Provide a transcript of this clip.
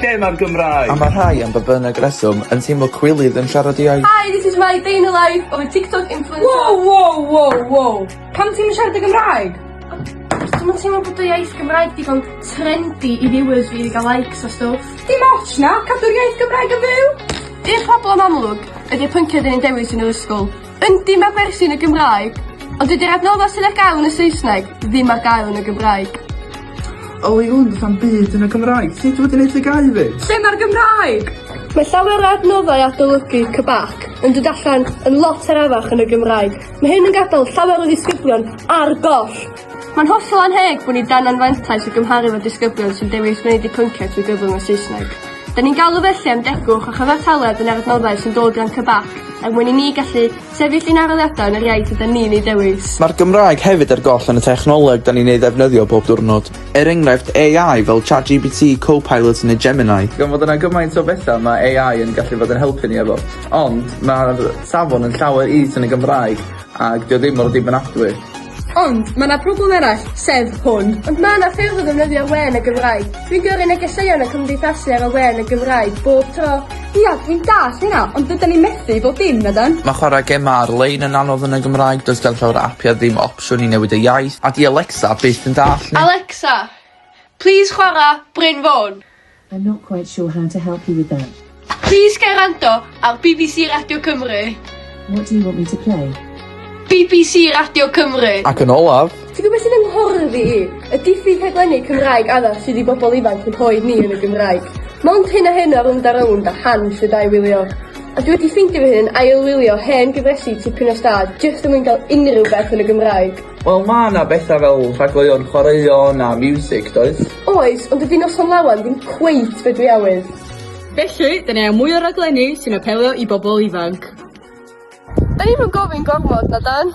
Lle ma'r Gymraeg? A ma' rhai am ba bynnag reswm yn teimlo cwilydd yn siarad iaith... Hi this is my day in the life of a tiktok influencer... Wow wow wow wow! Pam ti'm yn siarad y Gymraeg? Achos dwi'm yn teimlo bod y iaith Gymraeg digon trendy i viewers fi i ga'l likes a stwff. Dim otsh na! Cadw'r iaith Gymraeg yn fyw! Un problem amlwg ydi y pynciau 'dyn ni'n dewis yn yr ysgol. Yndi ma' gwersi yn y Gymraeg ond dydi'r adnodda' sydd ar gael yn y Saesneg ddim ar gael yn y Gymraeg. O i hwn do's 'na'm byd yn y Gymraeg. Sut wyt ti'n neud dy gau 'fyd? Lle ma'r Gymraeg? Mae llawer o adnoddau adolygu cybac yn dod allan yn lot arafach yn y Gymraeg. Mae hyn yn gadael llawer o ddisgyblion ar goll. Mae'n hollol annheg bo' ni dan anfantais i gymharu 'fo disgyblion sy'n dewis gwneud eu pynciau trwy gyfrwng y Saesneg. 'Dyn ni'n galw felly am degwch a chyfartaledd yn yr adnoddau sy'n dod gan Cybac er mwyn i ni gallu sefyll i'n aroliadau yn yr iaith ydan ni'n ei dewis. Mae'r Gymraeg hefyd ar goll yn y technoleg 'dan ni'n ei ddefnyddio bob diwrnod. Er enghraifft, AI fel ChatGPT, Copilot neu Gemini. Gan fod yna gymaint o betha ma' AI yn gallu bod yn helpu ni efo. Ond ma'r safon yn llawer is yn y Gymraeg ag 'di o ddim mor ddibynadwy. Ond, ma' 'na problem arall, sef hwn. Ond ma' 'na ffyrdd o ddefnyddio we yn y Gymraeg. Dwi'n gyrru negeseuon a cymdeithasu ar y we yn y Gymraeg bob tro. Ia, dwi'n dallt hynna, ond dydan ni'n methu bob dim, nadan? Ma' chwara gema ar-lein yn anodd yn y Gymraeg, does gan llawer o apiau ddim opsiwn i newid y iaith, a 'di Alexa byth yn dallt ni. Alexa! Plîs chwara Bryn Fôn. I'm not quite sure how to help you with that. Plis cer rando ar bbc Radio Cymru. What do you want me to play? bbc Radio Cymru. Ac yn olaf, Ti'n gwybod beth sy'n ymhordd i? Y diffyg rhaglenni Cymraeg addas sydd i bobl ifanc yn rhoi ni yn y Gymraeg. Mond hyn a hyn o rownd a rownd a han sydd dau wylio. A dwi wedi ffeindio fy hun yn ail-wylio hen gyfresi tipyn o stad jyst er mwyn cael unrhyw beth yn y Gymraeg. Wel ma' 'na betha fel rhagleuon chwaraeon a miwsig does? Oes ond dydi Noson Lawen ddim cweit be' dwi awydd. Felly 'dyn ni angen mwy o raglenni sy'n apelio i bobol ifanc. 'Dan ni'm yn gofyn gormod na 'dan?